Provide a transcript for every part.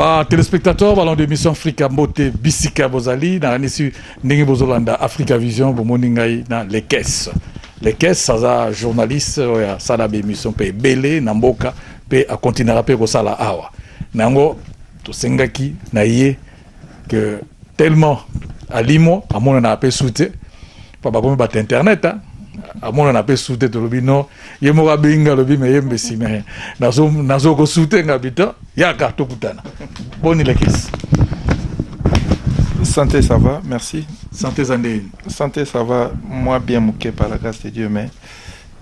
ba téléspectateurs balon de mission africa mbote bisika bozali nakanisi ndenge bozolanda africa vision bomoni ngai na lekes lekes aza journaliste oyo asala baémission mpe ebele na mboka mpe akontinaka mpe kosala awa na yango tosengaki na ye que tellement alimo amonana ape su te mpo bakomi bato internet hein. amonana mpe su te tolobi no ye moko abengi nga alobi me ye mbesi me nazo kosu te nga bita yaka tokutana boni lekisi santé ça va merci santé eza ndeni santé ça va mwa bien moke par la grâce de dieu mais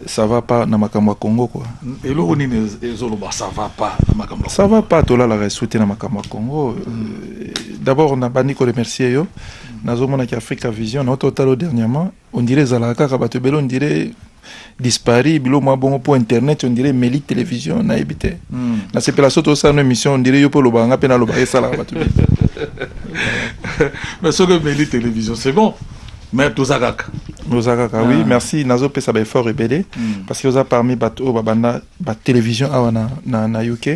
ça va pas na makambo ya Congo quoi. Eloko nini ezoloba ça va pas na makambo. Ça va pas tolalaka esu te na makambo ya Congo. Euh, d'abord na bandi ko remercier yo. Nazomona ki Africa Vision na ototalo dernièrement on dirait ezalaka kaka bato ebele on dirait dispari bilo mwa bongo mpo internet on dirait emeli télévision nayebi te hmm. nasepela so tosala no émission on dirait yo mpe olobaka nga mpe nalobaka esalaka bato mais soki emeli télévision c'est bon mais toza kaka oza kaka oui ah. merci nazopesa baeffort ebele hmm. parce que oza parmi bato oyo babanda batélévision awa na, na, na uk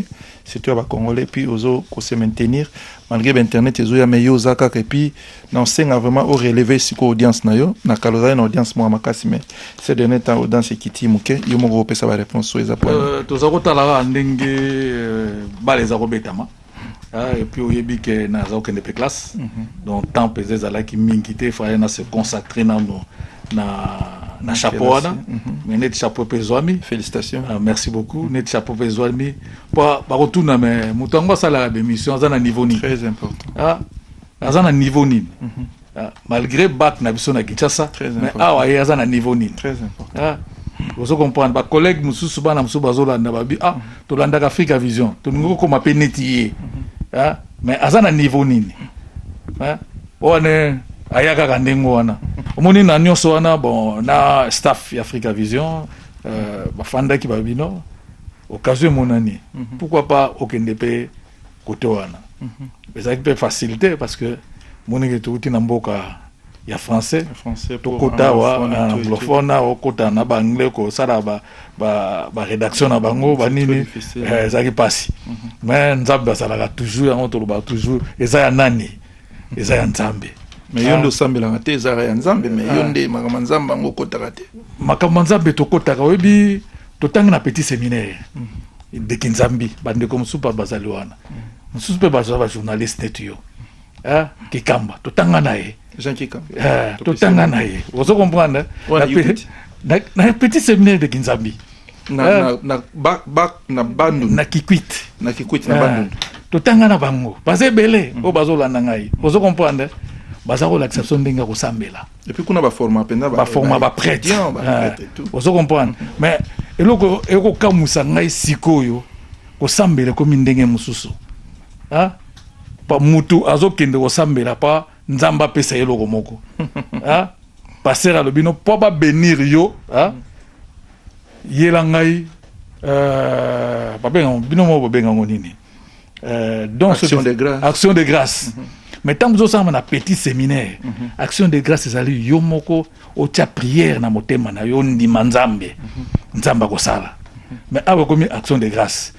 surtout ya bacongolais puis ozo kose maintenir malgré bainternet ezoya mais yo oza kaka epuis na osenga vraiment oreleve sikoyo audience na yo na kala ozali na audience moko makasi mais ce dernier temps audience ekiti moke yo moko opesa baréponse oyo eza po euh, toza kotalaka ndenge euh, bala eza kobetama Ah, et puis oyebi ke naza okende pe classe mm -hmm. donc temps mpenza ezalaki mingi te fallait na se consacrer nano na na chapeau wana mm -hmm. mais neti chapeau mpe ezwami félicitation ah, merci beaucoup mm -hmm. neti chapeau mpe ezwami mpo bakotuna me moto yango asalaka bémission aza na niveau nini très important ah, aza na niveau nini mm -hmm. ah, malgré bac na biso na kinshasa mais awa ye aza na niveau nini ah, ozo comprendre bacollègue mosusu bana mosusu bazolanda babi ah tolandaka africa vision tolingi kokoma mpe neti ye mhm. ah, mais aza na niveau nini ah, wana aya kaka ndenge wana omoni na nyonso wana bon na staff ya africa vision euh, bafandaki babino occasion emonani mhm. pourquoi pas okende mpe kote wana ezalaki mpe facile te parce que monike touti na mboka ya français tokota awa anglophone awa okota na baanglais kosala barédaction na bango banini eh, ezalaki mpasi mhm. mais nzambe azalaka toujours yango tolobaka toujours eza ya nani eza ya nzambe mais yo nde ah. osambelaka te ezalaka ya nzambe mais yo ah. nde makambo ya nzambe yango okotaka te makambo ya nzambe tokotaka oyebi totangi na petit séminaire mhm. ndeke nzambi bandeko mosusu mpe bazali wana mosusu mpe bazwa bajournaliste neti yo eh, kikamba totanga na ye eh, totanga na ye ozo comprendre na petit seminaire de kinzambi na bandundu na kikwiti na kikwiti na bandundu totanga na bango baza ebele oyo bazolanda ngai ozo comprendre baza kolakisa biso ndenge ya kosambela Et puis kuna ba forma penza ba forma ba prêtre. Ah, ozo comprendre. Mais eloko eko kamusa ngai sikoyo kosambela komi ndenge mususu. Ah? Pa mutu azokende kosambela pa nzambe apesa ye eloko moko. Ah? Pasteur alobi no po ba benir yo, ah? Yela ngai euh, babenga bino moko babenga ngo nini? euh, donc action, de grâce. action de grâce mm -hmm. mais ntango ozosala na petit séminaire mm -hmm. action de grâce ezali yo moko otya prière na motema na yo ndima nzambe mm -hmm. nzambe akosala mhm. mais awa ekomi action de grâce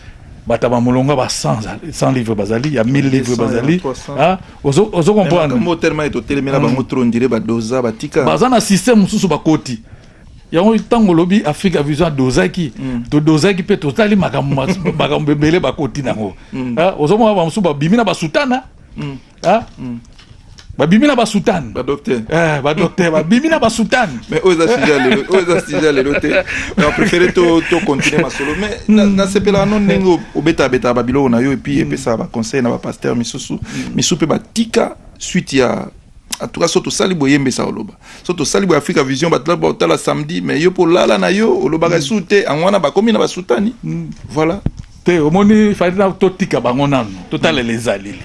bato ya bamolongo ba 100 livre bazali ya 1000 livre bazali ah, ozo comprendre baza na système mosusu bakoti yango ntango olobi afrika vision adozaki mm. todozaki mpe totali makambo makambo ebele bakoti nango mm. ah, ozomona bamosusu babimi na basutana mm. ah? babimi na basutane badokter eh, badokter babimi na basutane mais oyo eza sujet lelo oyo eza sujet lelo te mais préféré to to continuer masolo mais hmm. nasepelaka no ndenge obetabetaka babiloko na yo epuis hmm. epesaka baconseil na bapasteur misusu hmm. misusu mpe batika suite ya en tout cas so tosali boyembesa oloba so tosali boye africa vision bato laba otala samedi mais yo mpo olala na yo olobaka mm. esu te yango wana bakomi na basutani mm. voilà te omoni fali na totika bango nano totalela mm. ezaleli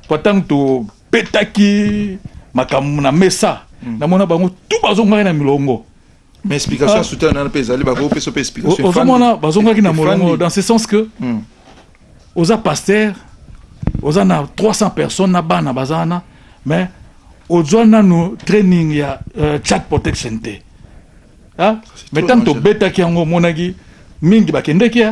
mpo ntango tobetaki makambo na mesa namona bango tu bazongaki na milongo mais explication ya soutien nana mpe ezali bakoki kopesa mpe explication ozomona bazongaki na molongo dans ce sens que hmm. oza pasteur oza na 300 personnes na bana baza wana mais ozwa nanu training ya euh, chat protection te ah, mais ntango tobetaki yango omonaki mingi bakendeki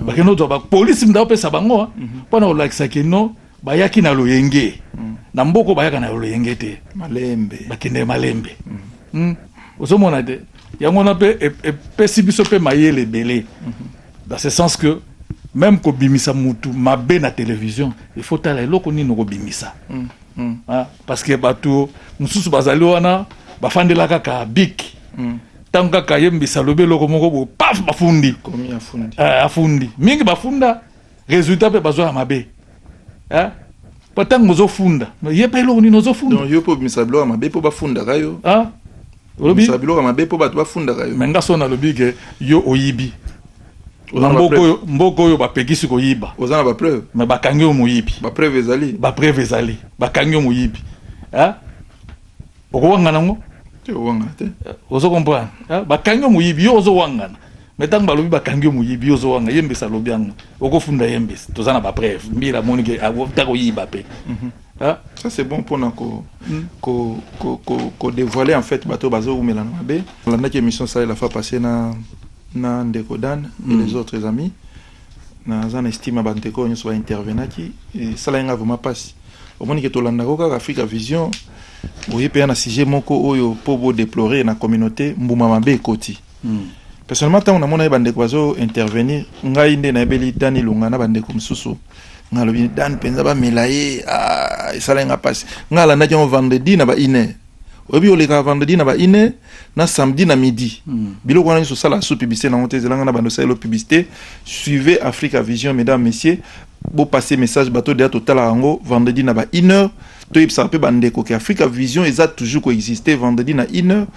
bakende kozwa bapolisi mda opesa bango mpo na kolakisa kino bayaki na loyenge mm. na mboko bayaka na loyenge te malembe bakende malembe mm. mm. ozomona te yango wana mpe e, epesi e, biso mpe mayele ebele mm-hmm. dans ce sens que même kobimisa mutu mabe na télévision il faut tala eloko nini okobimisa mm. mm. ah, parce que bato mosusu bazali wana bafandela kaka bik mm. ntango kaka yembisa lobi eloko moko bo paf bafundi afundi eh, mingi bafunda resultat pe bazo ya mabe hein po tango ozo funda ye pe eloko nini ozo funda donc yo po bimisa biloko ya mabe po bafundaka yo hein olobi bimisa biloko ya mabe po bato bafundaka yo mais nga so nalobi ke yo oyibi na mboka oyo mboka oyo bapekisi koyiba oza na bapreuve me bakangi yo moyibi bapreuve ezali bapreuve ezali bakangi yo moyibi hein okowangana yango te owangana te ozo comprendre ah, bakangi yo moyibi yo ozowangana me ntango balobi bakangi yo moyibi yo ozowanga ye mbesa alobi yango okofunda ye mbesa toza na bapreve mbila amoni ke ata koyiba mpe Ah. ça c'est bon mpona ko, mm. ko, ko, ko, ko dévoiler en fait bato bazowumela na mabe olandaki émission salela fa passé na, na ndeko dan mm. et les autres amis naza na estime ya bandeko oyo nyonso baintervenaki esalaki ngai vraimen mpasi omoni ke tolandako kaka afrika vision oye mpeya na sujet moko oyo mpo bodeplore na communauté mbuma mabe ekoti hmm. personnellement ntango namonaki bandeko bazo intervenir ngai nde nayebeli dani lunga na bandeko mosusu nalobi dani mpenza bamela ye ah, esalaki ngai mpasi ngai alandaki yango vendredi na ba iner oyebi oleka vendredi na ba ine na samedi na midi hmm. biloko wana nyonso osala sous publicité nango te ezelanga na bando osalelo publicité suivez africa vision mesdames messieurs bopase message bato deya totalaka yango vendredi na ba une heure toyebisaka mpe bandeko ke africa vision eza toujours koexiste vendredi na une heure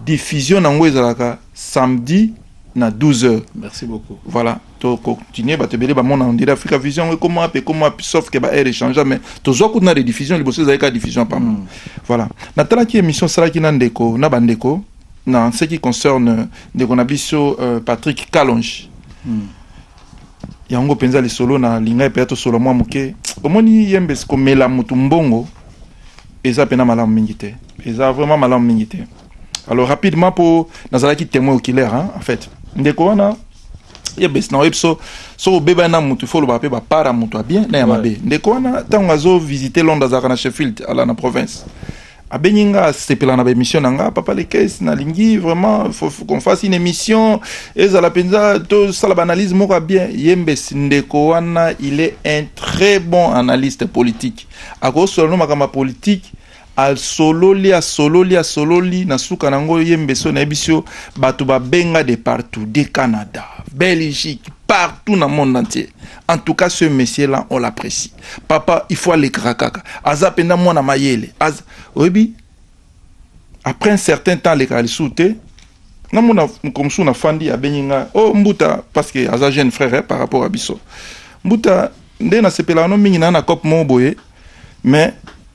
diffusion na yango ezalaka samedi na 12 heures merci beaucoup voilà to continuer bato ebele bamona on dirait africa vision yango ekoma wapi ekoma wapi sauf que baheure echangea mais tozwa kutu na rediffusion liboso ezalaki kaka diffusion pamba mm. voilà natalaki émission asalaki na ndeko na bandeko na ce qui concerne ndeko na biso euh, patrick calonge mm. yango mpenza lisolo na lingai mpenza tosolo mwa moke omoni yembe komela motu mbongo eza mpena malamu mingi te eza vraiment malamu mingi te alors rapidement mpo nazalaki témoin oculaire hein, en fait ndeko wana yebesi na oyebi so soki obebani na motu fo olobaka mpe bapara motu ya bien na ya mabe ndeko wana ntango azovisite londres azalaka na sheffield ala na province abengi nga asepela na baémission na nga papa lekes nalingi vraiment faut, faut qu'on fasse une émission ezala mpenza tosala baanalyse moko ya bien ye mbesi ndeko wana il est un très bon analyste politique akosola no makambo ya politique Asololi asololi asololi na suka nango ye mbeso nayebisi yo batu babenga de partout de Canada, Belgique, partout na monde entier. En tout cas ce monsieur là on l'apprécie. Papa il faut alekaka kaka. Aza penda mwana mayele. Az... Oyebi après un certain temps alekaka lisusu te na mona mokolo mosusu na fandi abengi ngai o oh, mbuta parce que aza jeune frère eh, par rapport ya biso mbuta nde nasepelaka no mingi na na cope moko boye mais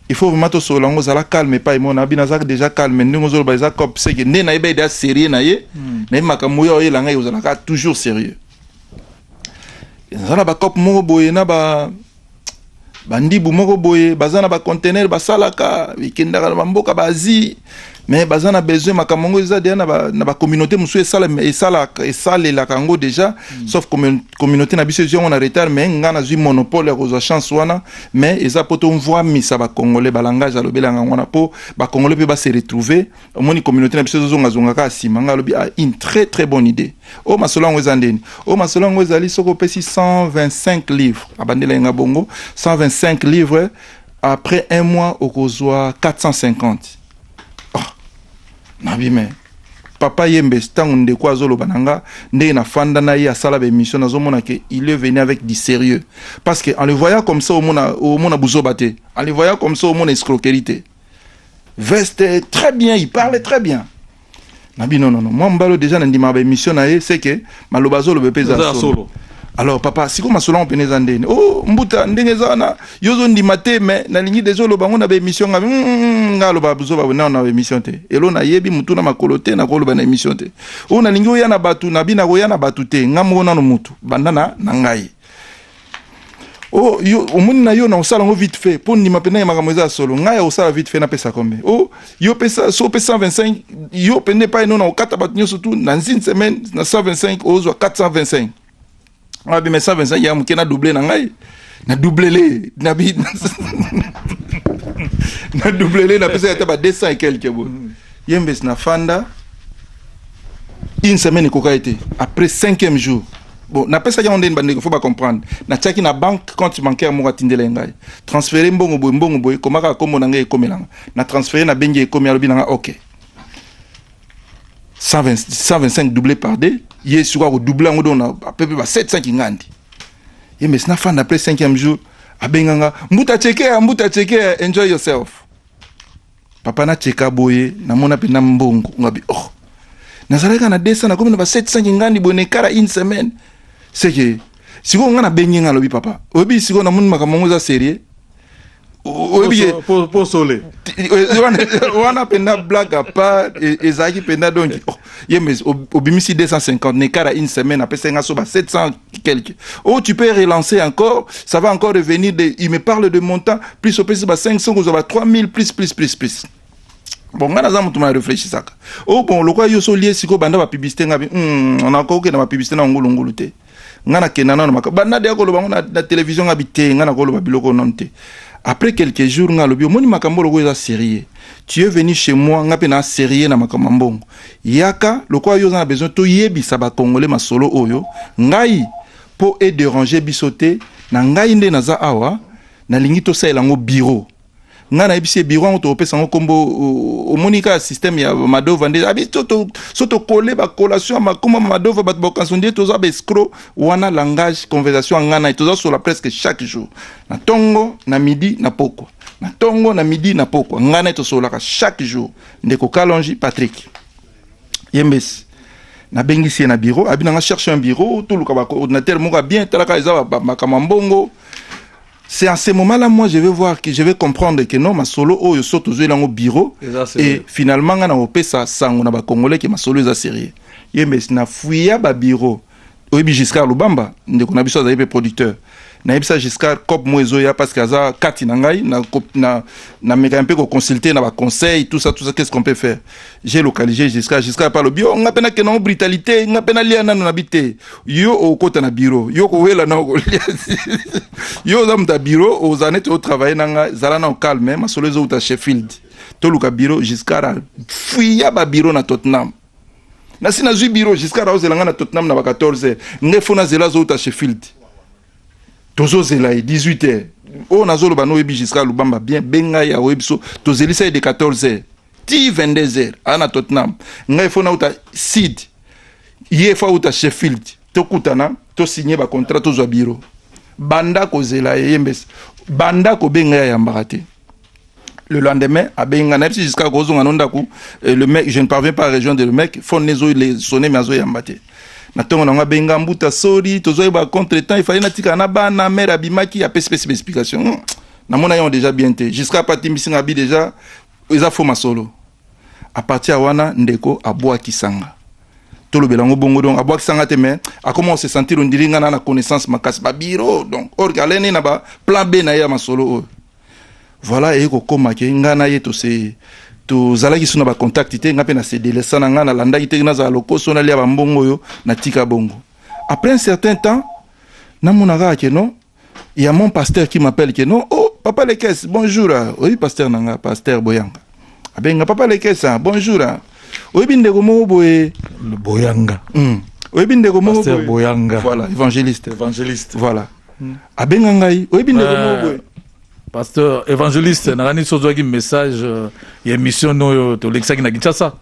il faut vraiment to solo ngo zala calme pa imona bina zak déjà calme ndingo zolo ba za cop c'est que ne na ebe da sérieux na ye hmm. na maka moyo oyo langa yo zala ka toujours sérieux zana ba cop moko boye na ba bandibu moko boye baza na bacontener basalaka bikendaka na bamboka baasie mais baza na besoin makambo yango eza deja na bacommunauté ba mosusu esalelaka yango deja mm. sauf communauté na biso ezwi yango na retard mais ngai nazwi monopole ya kozwa chance wana mais eza mpo tomvwamisa bacongolais balangage alobelaka yango wana mpo bacongolais mpe base retrouve omoni communauté na biso ezozongazonga kaka nsima ngai alobi ah, une très très bonne idée oyo oh, masolo yango eza ndeni oyo oh, masolo yango ezali soki opesi 125 livre abandela ye ngai bongo 125 livre après un mois okozwa 450 ah, nabime papa yembe ntango ndeko azoloba na nga ndenge nafanda na ye asala baémission nazomona ke il est venu avec du sérieux parce que en le voyant comme ça omona, omona buzoba te en le voyant comme ça omona escroquerie te veste très bien il parle très bien na bino nono mwa mobali deja na ndimaka baémission na ye seke maloba azoloba mpe eza solo alors papa sikoyo masolo yango mpena eza ndeni o oh, mbuta ndenge eza wana yo ozondima te mai nalingi deja oloba yango na baémission nga hmm, hmm, hmm, nga aloba zoba nao na baémission te elo nayebi motu na makolo te nakoloba na émission te oyo oh, nalingi oya na bato na bino akoya na bato te nga moko nano motu banda na, na ngai oh yo omoni na yo na osala yango vite fait mpo ndima mpena ya makambo eza ya solo ngai ya osala vite fait napesa kombe oh yo pesa so opesa 125 yo mpende epai no na okata bato nyonso tu na nzini semaine na 125 ozwa 425 abima 125 ya moke na double na ngai na doublele na bi na doublele napesa ata ba 200 et quelque bo yembes na fanda une semaine ekokaki te après cinquième jour bon napesaki yango ndeni bandeko fo bacomprendre natiaki na banque compte bancaire moko atindela ye ngai transfere mbongo boye mbongo boye koma kaka nkombo na ngai ekomelanga na transfere na bengi ekomi alobi na ngai ok 125 double par d ye sikoyo akodouble yango donc na pepe ba 700 kingandi ye mesi nafanda après 5e jour abenganga mbuta chekea mbuta chekea enjoy yourself papa na cheka boye na mona pena mbongo ngabi oh nazalaka na 200 na komi na ba 700 kingandi boye na ekara une semaine seke sikoyo nga na bengi nga alobi papa oyebi sikoyo na moni makambo yango eza serieux oyebi posole wana pena blague à part ezalaki pena donc oh, ye mais obimisi 250 na ekara une semaine apesaki nga so ba 700 quelque oh tu peux relancer encore ça va encore revenir de il me parle de montant plus opesi ba 500 kozwa ba 3000 plus plus plus plus bon ngai naza motu ma réfléchissaka oh bon lokola yo solie sikoyo banda bapiblisité ngai hmm, nakoki na bapiblisité na ngulungulu te ngai nakenda nano maka banda deya koloba ngo na, na télévision ngai bi te ngai nakoloba biloko nano te après quelques jours ngai alobi omoni makambo lokola eza sérieux tu es venu chez moi ngai mpe na sérieux na makambo ya mbongo Yaka lokola yo oza na besoin to yebisa ba congolais masolo oyo ngai po e deranger biso te na ngai nde naza awa nalingi tosalela yango bureau ngai nayebisi ye biro yango tokopesa yango nkombo omoni kaka systeme ya madova nde abi so tokole bakolation ya makoma ma madova bato bakokanisa nde toza baescro wana langage conversation ya ngai naye toza sola presque chaque jour na ntongo na midi na pokwa na ntongo na midi na pokwa ngai naye tosololaka chaque jour ndeko kalonji patrick yembesi nabengisi ye na bureau abi nanga cherche un bureau toluka bacoordinateur moko ya bien talaka eza makambo ya mbongo c'est en ce moment là moi je vais voir que je vais comprendre que non masolo oyo so tozweli yango bureau et finalement nga na kopesa sango na bacongolais ke masolo eza sérieux yembesi na fuya babureau oyebi giscard lubamba ndeko na biso azali mpe producteur nayebisa giscard cop mo ezoya parce que aza kati na ngai namekaka mpe koconsulte na baconseil tout ça tout ça qu'est ce qu'on peut faire j'ai localisé giscard giscard mpe alobi o nga mpe nakenda ngo brutalité nga mpe nalia nano na bi te yo okokota na bureau yo okowela na okolia yo oza moto ya bureau ozala neti otravaille na ngai zala nao calme masolo ezowuta sheffield toluka bureau giscard afuya babureau na tottenham nasi nazwi biro giscard aozela ngai na tottenham na ba 14 heure ngai fo nazela azouta sheffield tozozela ye 18 heure oyo nazoloba no oyebi giscard lubamba bien benga ye aoyebi so tozelisa ye de 14 heure ti 22 heure aa na tottenham ngai fo nauta sid ye fo auta sheffield tokutana tosigne bacontrat tozwa biro banda kozela ye ye mbese banda kobenga ye ayambaka te le lendemain abengi ngai nayebi si jusqu'à kozonga no ndako euh, le mec je ne parviens pas à rejoindre le mec phone nezo sonne mais azoyamba te na ntongo nango abengi ngai mbuta sori tozoyeba contre temps ifali natikala na bana mare abimaki apesi pesi baexplication hmm. namona yango déjà bien te jusqu'à pa atimbisi ngai abi déjà eza fo masolo à partir ya wana ndeko abwakisa nga tolobela yango bongo donc abwakisa nga te mais akoma ose sentir ondiri ngai na na connaissance makasi babiro donc orke alene na baplan b na ye ya masolo oyo Voilà eye kokoma ke nga na ye tose tozalaki so na bacontact te nga mpe na sedelesa na nga nalandaki te nazala lokoso nalia bambongo oyo natika bongo après un certain temps namona kaka ke non ya mon pasteur qui m'appelle ke non oh papa lekes bonjour ah, oyebi pasteur na nga pasteur boyanga abenga papa lekesa bonjour ah. oyebi ndeko moko boye boyanga mm. oyebi ndeko moko boye boyanga voilà évangéliste évangéliste voilà mm. abenga ngai oyebi ndeko moko euh, boye pasteur évangéliste nakani so ozwaki message euh, ya émission oyo tolekisaki na kinshasa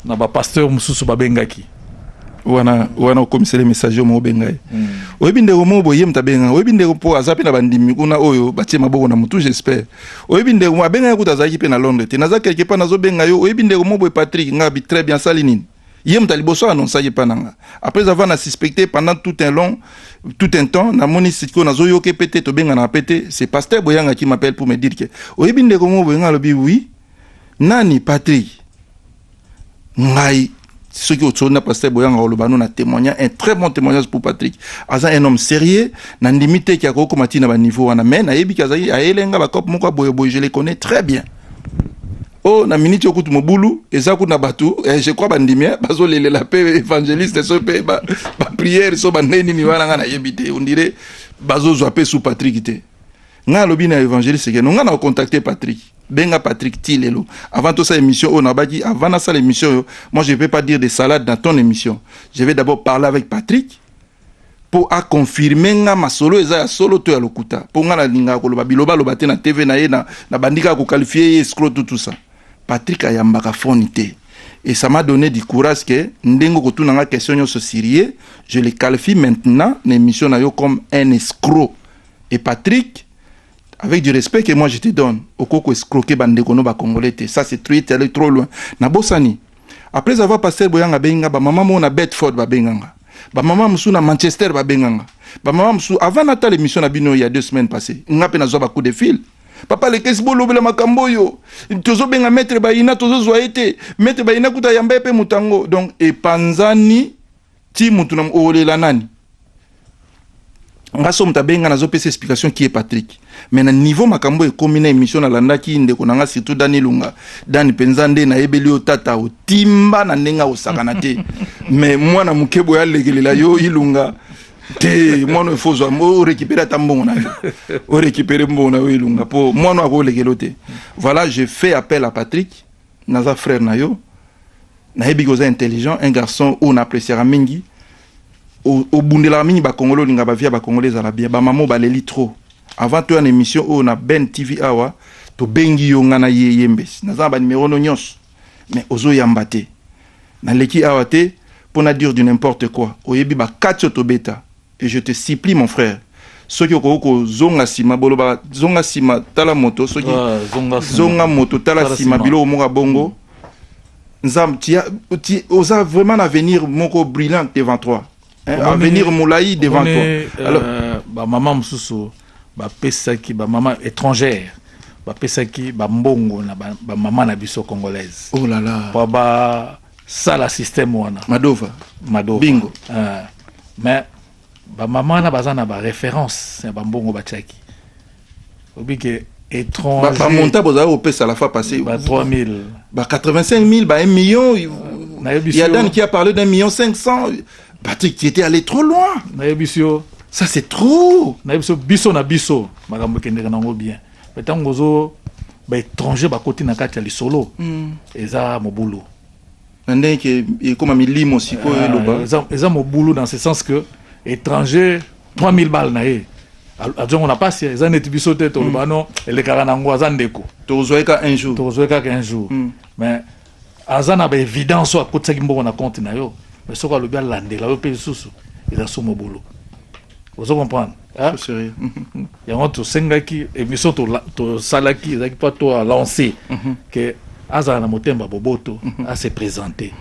na bapasteur mosusu babengaki wana wana okomiseli message yo moko bengai mm. oyebi ndeko moko boye ye moto abenga oyebi ndeko mpo aza mpe na bandimi kuna oyo batie maboko na motu j'espère Oyebi ndeko moko abengaki kutu azalaki mpe na Londres te. Naza quelque part nazobenga yo, oyebi ndeko moko boye Patrick, nga bi très bien asali nini? Ye moto ya liboso anonsaki epai na nga. Après avoir na suspecte pendant tout un long tout un temps, namoni sikoyo nazoyoka mpe te, tobenganaka mpe te, c'est pasteur Boyanga qui m'appelle pour me dire que oyebi ndeko moko boye, nga alobi oui, nani? Patrick. ngai soki otsoli na pasteur boyanga oloba no na témoignage un très bon témoignage pour patrick aza un homme sérieux na ndimi te ke akoki komati na baniveau wana mais nayebi ke azali ayele nga bacope moko ya boyeboye je le connais très bien o oh, na miniti oyo kutu mobulu eza kuna bato eh, je crois bandimi eh, bazolelela mpe évangéliste so mpe bapriere ba so bandenge nini wana ngai nayebi te ondire bazozwa mpe sous patrick te nga alobi na evangeliste ke no nga na contacter Patrick benga Patrick ti lelo avant tout ça émission on abaki avant na sala émission yo moi je vais pas dire des salades dans ton émission je vais d'abord parler avec Patrick pour a confirmer nga masolo eza ya solo to ya lokuta pour nga na linga ko loba biloba loba te na TV na ye na na bandika ko qualifier escroc tout tout ça Patrick ayambaka phone te et ça m'a donné du courage que ndengo ko tuna nga question yo so sérieux je le qualifie maintenant na émission na yo comme un escroc Et Patrick, avec du respect que moi je te donne, okoko escroquer bande kono ba congolais te. Ça c'est trop allé trop loin. Na bosani. Après avoir passé boyanga benga ba maman mona Bedford ba benganga. Ba maman musu na Manchester ba benganga. Ba maman musu avant na tale mission na bino il y a deux semaines passées. Nga pe na zo ba coup de fil. Papa le kesi bo lobela makambo yo. Tozo benga maître Bayina tozo zo été. Maître Bayina kuta yamba pe mutango. Donc epanzani ti mutu na olela nani nga so moto abengi nga nazopesa explication kie patrick mais na niveau makambo ekomi na émission nalandaki ndeko na nga surtout dani lunga dani mpenza nde nayebeli yo tata otimba na ndenge akosakana te mais mwana moke boye alekelela yo ilunga te mwana oyo fozwa orekipere ata mbongo na yo orekipere mbongo na yo ilunga mpo mwana oyo akolekelo te voilà je fais appel à patrick Naza frère na yo. Nayebi que oza intelligent, un garçon oyo na appréciaka mingi. Obundelaka mingi ba Congolais, olinga ba vie ya ba Congolais ezala bien. Ba maman baleli trop. Avant toya na émission oyo na Ben TV awa, tobengi yo nga na ye yembesi. Naza na ba numero no nyonso. Mais ozo yamba te. Naleki awa te po na dire du n'importe quoi. Oyebi ba kati oyo tobeta. Et je te supplie mon frère soki okoki kozonga sima boloba zonga sima tala moto soki ah, zonga, zonga moto tala, tala sima biloko moko ya bongo mm. Nzam, tu as, tu, oza vraiment un avenir moko brillant devant toi. Hein, avenir moulaï devant toi. Euh, Alors, ba maman mususu ba pesaki ba maman étrangère ba pesaki ba mbongo na ba, ba maman na biso congolaise. Oh là là. Ba, ba sala système wana madova madova bingo uh, mais bamama wana baza na baréférence ya bambongo batiaki obi ke étranger bamonta bozali kopesa la fois passé ba 3000 ba 85 000 ba 1 million ya dan qui a parlé d'un million 500 patrick tu étais allé trop loin nayebisi yo ça c'est trop nayebisi yo biso na biso makambo ekendeka nango bien Mais ntango ozo ba étranger bakoti na kati ya lisolo mm. eza mobulu na ndenge ke ekoma milimo sikoyo ah, eloba eza mobulu dans ce sens que étranger 3000 balles na ye azongo na pasi eza neti biso te toloba mm. no elekaka na yango aza ndeko tokozwa ye kaka un jour tokozwa ye kaka un jour mm. mais aza na ba evidence oyo akotisaki mbongo na compte na yo mais soki alobi alandela yo mpe lisusu eza somo bolo ozo comprendre yango tosengaki émission tosalaki ezalaki mpo to alancer mhm. ke azala na motema boboto mhm. ase présente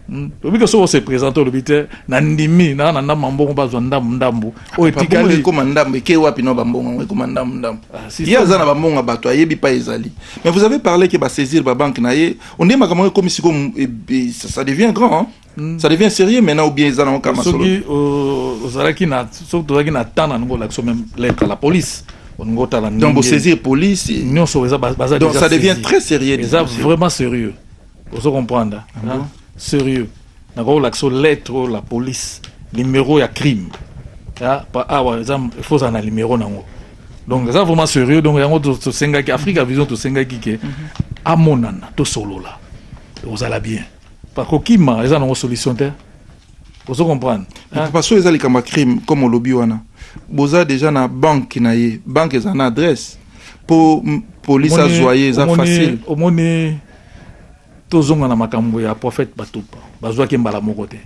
hmm? obi ke soki ose présente olobi te nandimi naa na ndambo ya mbongo bazwa ndambu ndambu oyo etikali ekoma ndambo eke wapi na bambongo yango ekoma ndambo ndambo ah, ye aza na bambongo ya bato ayebi pa ezali mais vous avez parlé ke basaisir babanke na ye onde makambo yango ekomi siko eh, eh, ça devient grand hein? Hmm. ça devient sérieux maintenant ou bien eza nango kama soki euh, ozalaki na soki tozalaki na temps na ningo olakisa meme lettre la police olingi otala donc bosaisir police nyonso eza baza donc ça devient très sérieux eza vraiment sérieux ozo comprendre ah. sérieux nakoki kolakisa lettre oyo la police numéro ya crime awa ah, ah, bah, eza faut ozala na numéro nango donc eza vraiment sérieux donc yango tosengaki africa vision tosengaki ke mhm. amonana tosolola ozala bien par kokima eza nango solution te ozo comprendre parce que eza likambo ya crime comme olobi wana boza déjà na banque na ye banque eza na adresse mpo police azwa ye eza facile omoni tozonga na makambo ya prophète batupa bazwaki ye mbala moko te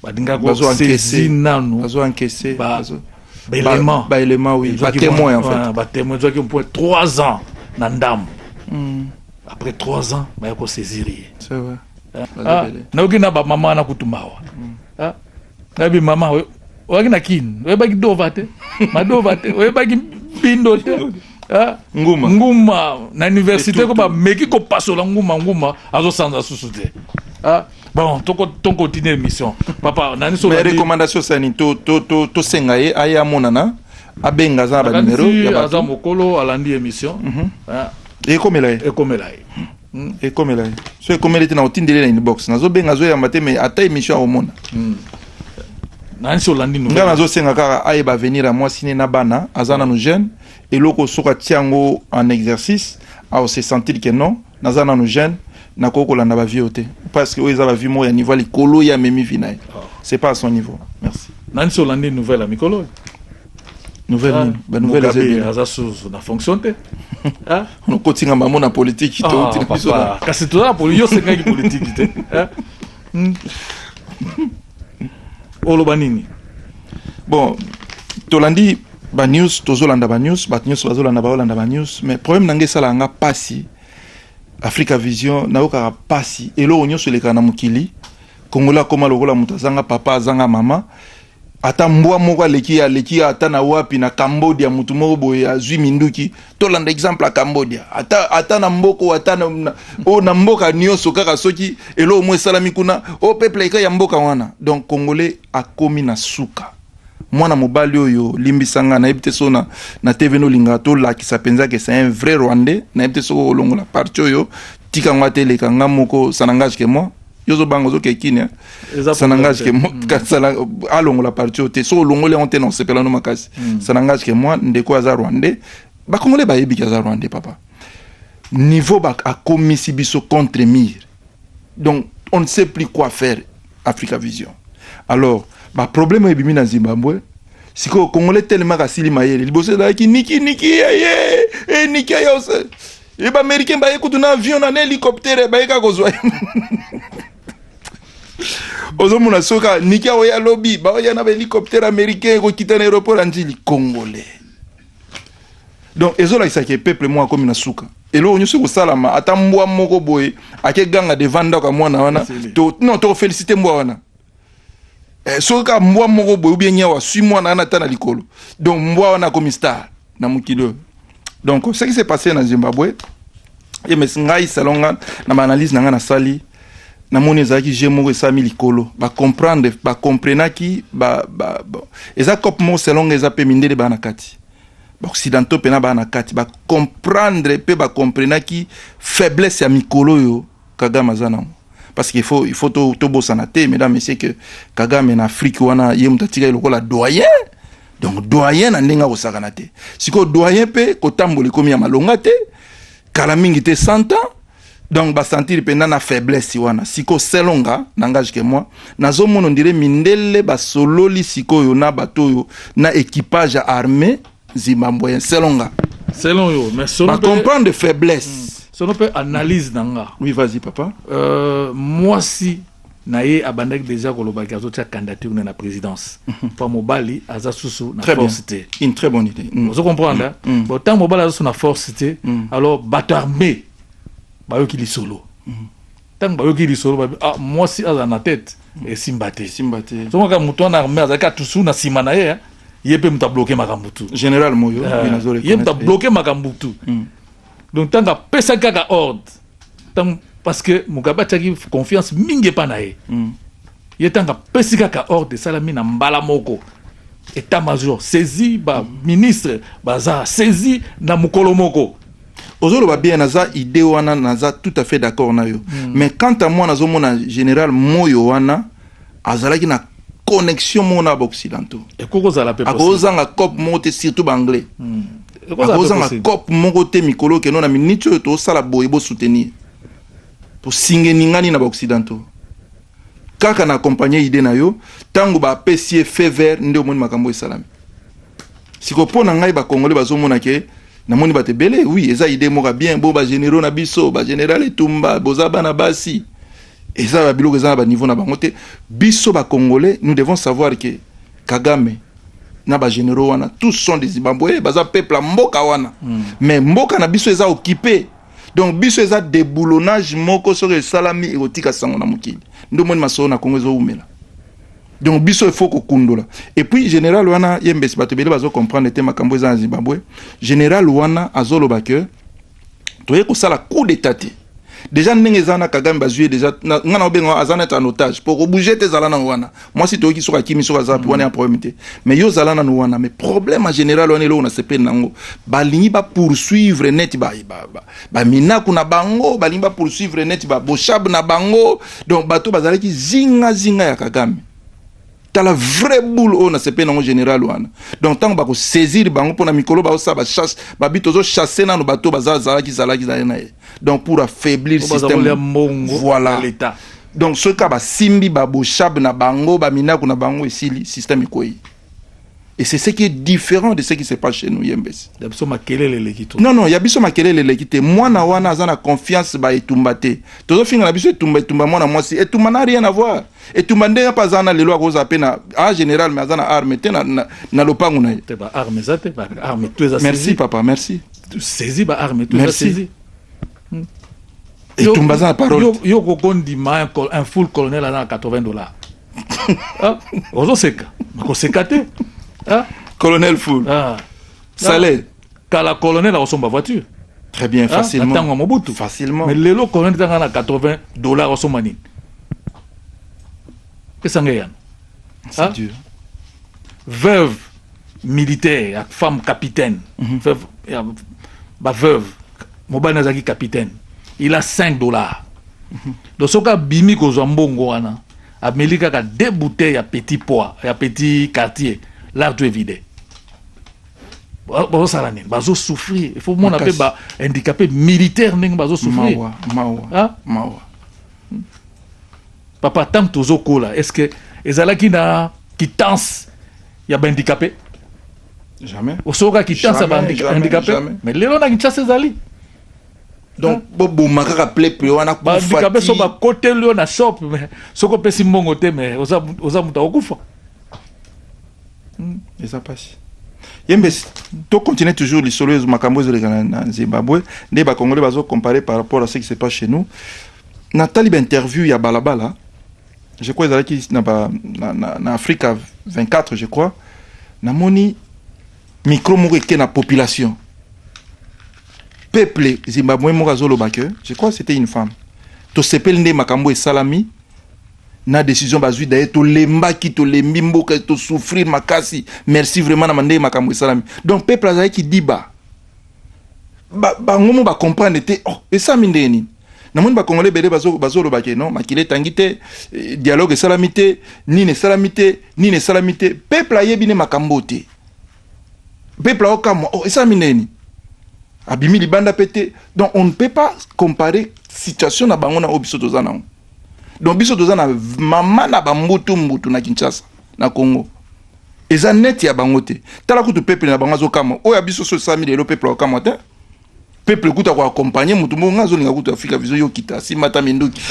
balingaki Bazo encaisser. basezi nanu Bazo encaisser. ba- Bazo- baelema ba- baelema, oui. Ezwaki Ba témoins, mwa- en fait. ah, ba témoins ezwaki mpo 3 ans na ndambo Mm, après 3 ans baya kosaisir ye c'est vrai. Ah, Bazobele. nayoki na bamama wana kutu mawa Ah, Nabi mama we oyaki na kin oyebaki dova te madova te oyebaki mpindo te ah, nguma nguma na université ko bameki kopasola nguma nguma azosanza susu te ah, bon toko tokontinue émission papa nani so recommandation sani tosenga ye aye amonana abenga aza na banimero aza mokolo alandi émission mhm. ah. ekomela ye ekomela ye Hmm, ekomela ye so ekomeli te na otindeli na inbox nazobenga azoyamba te mais ata émission akomona hmm. nansi olandi ngai nazosenga kaka ayeba avenir ya mwasi ne na bana aza nanu jeune eloko soki atia yango en exercice aose sentir ke non naza nanu jeune nakoki kolanda bavie oyo te parce que oyo eza bavie moko ya niveau ya likolo ye amemi vi na ye ah. c'est pas à son niveau merci nansi olandi nouvelle ya mikolo oyo nouvelle nini ba nouvelle eza bien aza sous na fonction te hein on kotinga mamu na politique to ah, tina biso na kasi to na politique yo sengaki politique te hein hmm. oloba nini bon tolandi ba news tozolanda ba news bato nyonso bazolanda baolanda ba news mais problème na ngai esalaka nga mpasi africa vision nayokaka mpasi eloko nyonso elekaka na mokili kongola akoma lokola moto azanga papa azanga mama Ata mbwa moko aleki ye aleki ye ata na wapi na Cambodia mutu moko boye azui minduki tolanda exemple ya Cambodia ata ata na mboko ata na, na, oh, na mboka nioso kaka soki eloko mo esalami kuna o oh, peuple eka ya mboka wana donc congolais akomi na suka mwana mobali oyo limbisa nga nayebi te so na, na tv nolinga tolakisa mpenza ke c'est un vrai rwandais nayebi te soki okolongola parti oyo tika ngo ateleka nga moko sanangage ke moi yo ozobanga ozokee kini eh? sanangage ke mm. alongola parti oyo te so olongoli yango te na osepela no makasi mm. sanangage ke mwa ndeko aza rwandais bakongole bayebi ke aza rwandais papa niveau akomisi biso contre mire donc on ne sait plus quoi faire africa vision alors baproblème oyo ebimi na zimbabwe sikoyo congolais telema kasili mayele liboso ezalaki niki niki yeye eh, eh, niki yose ye ba américain baye kutu na avion na na hélicoptère baye kaka kozwa ozomona soki niki aoya lobi baoya na bahélicoptère américain ekokita na aéroport ya njili congolais donc ezolakisaka ye peuple moko akomi na suka eloko nyonso ekosalama ata mbwa moko boye akeganga devant ndako ya mwana wana non tokofélicité mbwa wana eh, soki kaka mbwa moko boye obie nyau aswi mwana wana ata na likolo donc mbwa wana akomi star na mokili oyo donc ce qui s'est passé na zimbabwe ye mes ngai salon nga na baanalyse na ngai nasali namoni ezalaki je moko esami likolo bacomprendre bacomprenaki ba, ba, ba, eza cope moko salon nga eza mpe mindele baa na kati baoccidentaux mpe na baa na kati bacomprendre mpe bacomprenaki faiblesse ya mikolo oyo Kagame aza nango parce qu'il faut il faut to to bosana te mesdames messieurs que Kagame na Afrique wana ye muta tika lokola doyen donc doyen na ndenge akosakana te sikoyo doyen mpe kotambola ekomi ya malonga te kala mingi te 100 ans donc basentir mpenza na faiblesse wana siko selonga nangage ke moi nazomona ondire mindele basololi sikoyo na bato oyo na équipage ya armée Zimbabwe, selon nga. Selon yo, mais selon. Ba comprendre de faiblesse. Hmm. Selon pe analyse na nga. Oui, vas-y papa. Euh, moi si na ye abandaki deja kolobaki azotia candidature na na présidence mpo mhm. mm. mobali aza susu na force te une très bonne idée mm. ozo comprendre mm. mm. bon ntango mobali aza susu na force te mm. alors bato armé bayoki lisolo mm. ntango bayoki lisolo babi ah, mwasi azala na tete hmm. esimba te esimba te soki kaka moto wana arme azalaki atusu na nsima na ye ye mpe moto abloke makambo tu général moyo eh, ye moto abloke makambo tu hmm. donc ntango apesaki kaka ordre ntango parce que mugabe atiaki confiance mingi epa na ye hmm. ye ntango apesi kaka ordre esalami na mbala moko etat major saisi baministre baza saisi na mokolo moko ozoloba bien naza idée wana naza tout à fait d'accord na yo mm. mais quant à moi nazomona général moyo wana azalaki na connexion moko na baoccidentaux akozanga cope moko te surtout baanglais mm. akozanga cope moko te mikolo okeno na miniti oyo tosala boye bosoutenir tosinge ningani na baoccidentaux kaka na accompagne idée na yo ntango bapesi ye fe vert nde omoni makambo esalami sikoyo mpo na ngai bakongole bazomona ke Namoni bato ebele oui, eza idee moko bien bo ba generaux na biso ba general etumba boza bana basi eza ba biloko eza na ba niveau na bango te biso ba congolais nous devons savoir que Kagame na ba généraux wana tous sont des Zimbabwe baza peuple ya mboka wana mm. mais mboka na biso eza occupé donc biso eza déboulonnage moko soki esalami ekotika sango na mokili ndomoni masolo na Congo ezowumela donc biso il faut kokundola et puis général wana ye mbesi bato ebele bazo comprendre te makambo eza na zimbabwe général wana azoloba ke toye kosala coup d'état te déjà ndenge eza na kagame bazwi ye déjà nga na obenga aza neti en otage po kobouge te ezala nano wana mwasi toyoki soki akimi soki aza mpe wana ya problème te mais yo ozala nano wana mais problème en général wana eloko na sepeli na yango balingi bapoursuivre neti ba, ba, ba, ba minaku na bango balingi ba poursuivre neti ba boshab na bango donc bato bazalaki zinga zinga ya kagame tala vrai boule oyo nasepeli nango général wana donc ntango bakosaisir bango mpo na mikolo baosala bachasse babi tozochasse nano bato bazalaki zalaki zali na ye donc pour affaiblir système voilà donc soki kaka basimbi baboshab na bango baminaku na bango esili système ekwei Et c'est ce qui est différent de ce qui se passe chez nous, Yembes. Yabiso makelele lekito. Non, non, yabiso makelele lekite. Moi, na wana, azana confiance ba etumbate. Tozo finga na biso etumba, etumba, moi, na moi, si. Etumba n'a rien à voir. Etumba nde y'a pas zana lelo akoza ape na, en général, mais azana arme, te na, na, na lopangu na ye. Te ba arme, zate, ba arme, tu es Merci, papa, merci. Tu saisis ba arme, tu es saisi. etumba aza na parole yo, yo kokondima un full colonel aza na 80 dollars ah, ozoseka nakoseka te ah? colonel full ah. salaire kala colonel akosomba voiture très bien ah, facilement na ntango ya mobutu facilement mais lelo colonel ezanga na 80 dollars osomba nini pesanga eyano C'est hein? dur. Veuve militaire, la femme capitaine. Mm -hmm. Veuve, ya, ba veuve. Mobile Nazaki capitaine. Il a 5 dollars. Mm -hmm. Donc, ce cas, Bimi Kozambongo, wana. Ameli kaka deux bouteilles ya petit poids, ya petit quartier. Là, tu es vidé. bazosala nini bazosouffrir il faut mona mpe ba handicapé militaire ndenge bazosouffrir mawa mawa hein? mawa Papa tango tozo kola est-ce que ezalaki na quittance ya ba handicapé? Jamais. Osoka quittance ya ba handicapé? Mais lelo na Kinshasa ezali. Donc bo boma kaka plepe wana kufa. Ba handicapé so ba kote lio na shop mais soko pesi mbongo te mais oza oza muta okufa. Hmm. Eza pasi. yembe to continuer toujours lisolo makambo ezoleka na zimbabwe nde bakongole bazo comparer par rapport à ce qui se passe chez nous Natali ba interview ya balabala je crois ezalaki na, ba, na, na, na afrika 24 je crois namoni micro moko eke na population peuple zimbabwe moko azoloba ke je crois c'était une femme tosepeli nde makambo esalami na décision bazwi daye tolembaki tolembi mboka tosouffrir makasi merci vraiment na ndenge makambo esalami donc peuple azalaki diba bango ba mo bacomprendre te oh, esalami ndenge nini namoni bakongole ebele bazoloba ke non makila etangi te eh, dialogue esalami te nini esalami te nini esalami te peuple ayebi ne makambo te peuple aokamwa oh, esalami neni abimi libanda mpe te donc on ne peut pas comparer situation na bango na oyo biso toza nango donc biso toza na mama na bambutu mbutu na kinshasa na congo eza neti ya bango te tala kutu peuple na bango azokamwa oyo ya biso so esalami lelo peuple aokamwa te peuple kutu ako accompagner moto moko nga azolinga kutu afrika vision yo kita simba ata minduki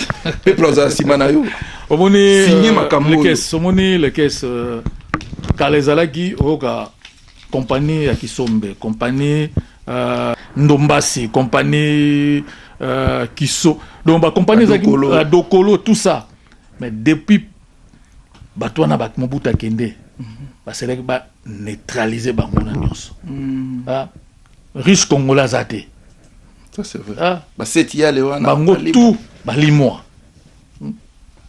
peuple azala nsima na yo omoni euh, signe makambo lekes omoni lekes euh, kala ezalaki oyoka compagnie ya kisombe compagnie euh, ndombasi compagnie euh, kiso donc bacompagnie ezalaki euh, dokolo tout ça mais depuis bato wana bato mobuta akende mhm. baselaki baneutralize bango na nyonso mm. ah, Russe congolais aza te. Ça c'est vrai. Ah. Ba seti yale wana. Bango tout balimwa. Mm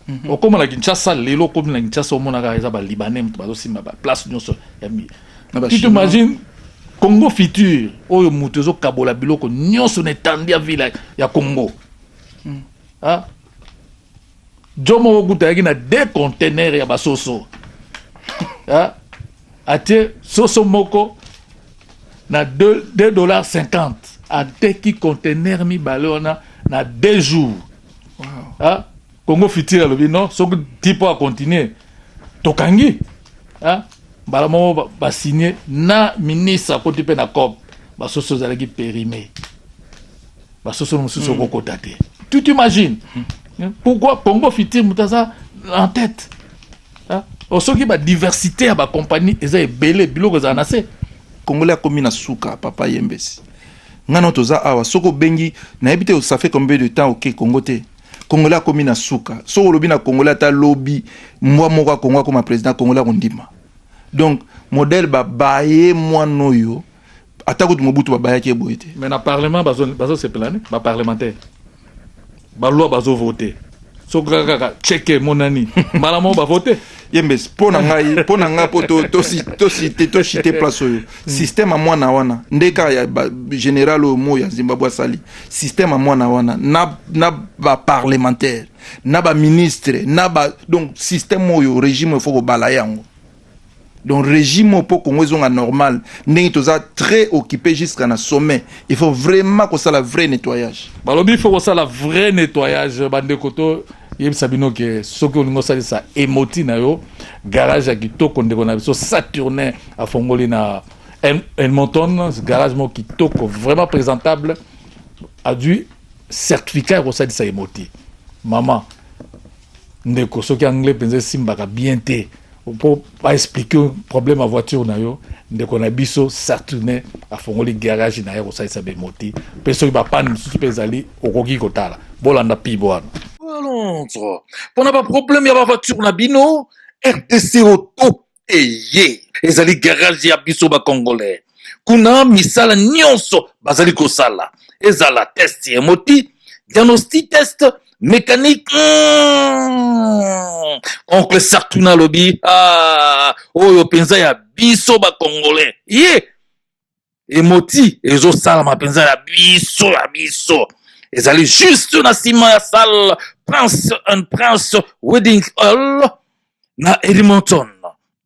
-hmm. Okoma na Kinshasa lelo okomi na Kinshasa omonaka eza ba libanais moto bazosimba ba place nyonso ya mi. Tu t'imagines Congo futur oyo moto ezokabola biloko nyonso na etandi ya ville ya Congo. Mm. Ah. Djo moko kutu ayaki na deux conteneurs ya basoso ah, atie soso moko na 2 dollars 50 ateki conteneur mibale wana na deux jours wow. ah, congo fitire alobi non soki ti mpo acontinue tokangi ah, mbala moko basigne na ministre akoti mpe na cop basoso ezalaki perime basosolo mosusu mm. okokota te tu t'imagine mm. pourquoi congo fitir moto aza en tête ah, oh, soki badiversité ya bacompagnie eza ebele biloko ezala na se congolais akomi na suka papa yembesi ngai no toza awa soki obengi nayebi te ça fait combien de temps oke congo te congolais akomi na suka soki olobi na congolais ata lobi mbwa moko ya congo akoma président congolais akondima donc modèle babaye mwana oyo ata kutu mobutu babayaki ye boye te mais na parlement bazosepela nde baparlementaire baloi bazovote soki kaka kaka cheke emonani mbala moko bavote yembes mpo na ngai mpo na ngai mpo tosite toshite place oyo hmm. systeme ya mwana wana nde kaka ya général oyo moi ya zimbabwe asali systeme ya mwana wana na, na baparlementaire na baministre na ba donc systeme oyo régime efo kobala yango donc regime oyo mpo congo ezonga normal ndenge toza très occupe jusqu'à na sommet il faut vraiment kosala vrai nettoyage balobi il faut kosala vrai nettoyage bandeko to yebisa bino ke soki olingi osalisa emoti na yo garage ya kitoko ndeko na biso saturne afongoli na elmonton garage moko kitoko vraiment présentable adui certificat ya kosalisa emoti mama ndeko soki anglais mpenza esimbaka bien te po aexplike problème ya voiture na yo ndeko na biso saturne afongoli garage na ye akosalisa bemoti mpe soki bapane mosusu mpe ezali okoki kotala bolanda pibo wana londres mpona baproblème ya bavoiture na bino rdc auto eye ezali garage ya biso bacongolais kuna misala nyonso bazali kosala ezala test ya moti diagnostic test mécanique mm, oncle sartuna alobi ah, oyo mpenza ya biso bacongolais ye emoti ezosalama mpenza ya biso ya biso ezali juste na nsima ya salle prince and prince wedding hall na edmonton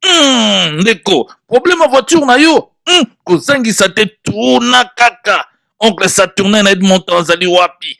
mm, ndeko problème ya voiture na yo mm, kozangisa te tuna kaka oncle saturnin na edmonton azali wapi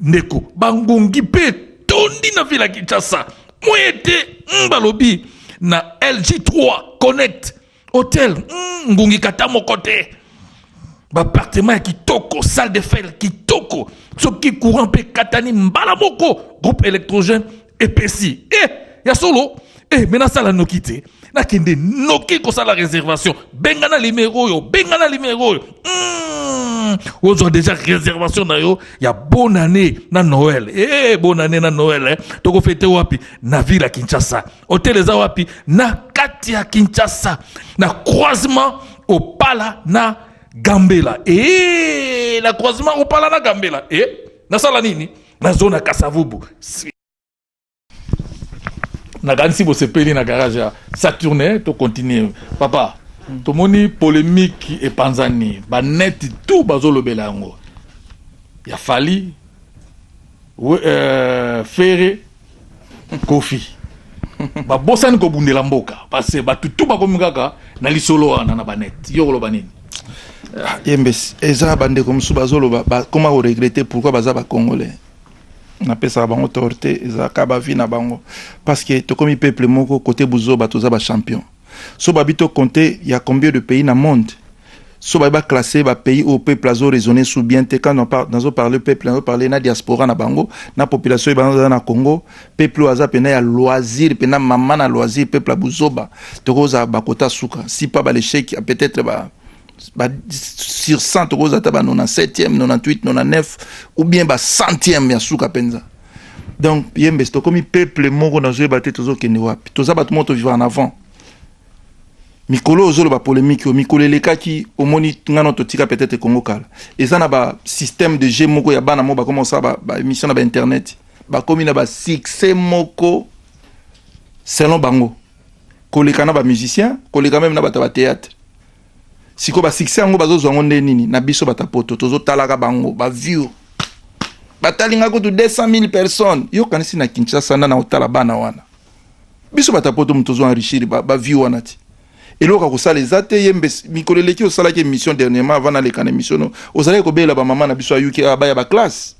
Ndeko, bangungi mpe etondi na vila Kinshasa moye te mm, balobi na LG3 Connect hotel mm, ngungi kata moko te bapartema ya kitoko salle de fer kitoko soki courant mpe ekatani mbala moko groupe électrogène epesi e eh, ya solo e me nasala noki te nakende noki kosala réservation benga na limero oyo benga na limero oyo hmm, ozwa déjà réservation na yo ya bonne année na noel e eh, bonne année na noel eh. tokofete wapi na ville ya kinshasa hotel eza wapi na kati ya kinshasa na croisement opala na gambela e na croisement opala na gambela e nasala nini na zona kasavubu nakanisi bosepeli na garage ya saturne to continue papa tomoni polemiki epanzani baneti tu bazolobela yango ya fali euh, fere Kofi babosani kobundela mboka parce bato tu bakomi kaka na lisolo wana na banete yo koloba nini ah, yembesi eza bandeko mosusu bazoloba bakoma koregrete pourkui baza bacongolais napesaka bango torte ezalaka bavi na bango parce que tokomi peuple moko kote buzoba toza bachampion so babi to compter ya combien de pays na monde so babi ba classer ba pays au peuple azo raisonner sous bien te quand nazo parler peuple nazo parler na diaspora na bango na population ebana za na Congo peuple aza pena ya loisir pena maman na loisir peuple buzoba tokoza bakota suka si pas ba l'échec peut-être ba ba sur 100 tokoza ta ba 97e 98 99 ou bien ba centième ya suka penza donc yembes tokomi peuple moko nazoyeba te tozokende wapi toza bato moko tovivre en avant mikolo oyo ozoloba polémique oyo mikolo elekaki omoni ngana totika peut-être congo kala eza na basystème de jeu moko ya bana moko bakoma kosala baémission ba na bainternet bakomi na basuccès moko selon bango koleka na bamusicien koleka meme na bato ya bathéâtre siko ba succès yango bazozwa yango nde nini na biso bata poto tozotalaka bango ba view batalinga kutu 200 000 personnes yo kanisi na kinshasa nda na otala bana wana biso bata poto moto ozo enrichir ba, ba view wana ti eloko akosala eza te ye mbe mikolo eleki osalaki émission dernièrement avant naleka na émission no ozalaki kobelela bamama na biso ayuki abaya baklasse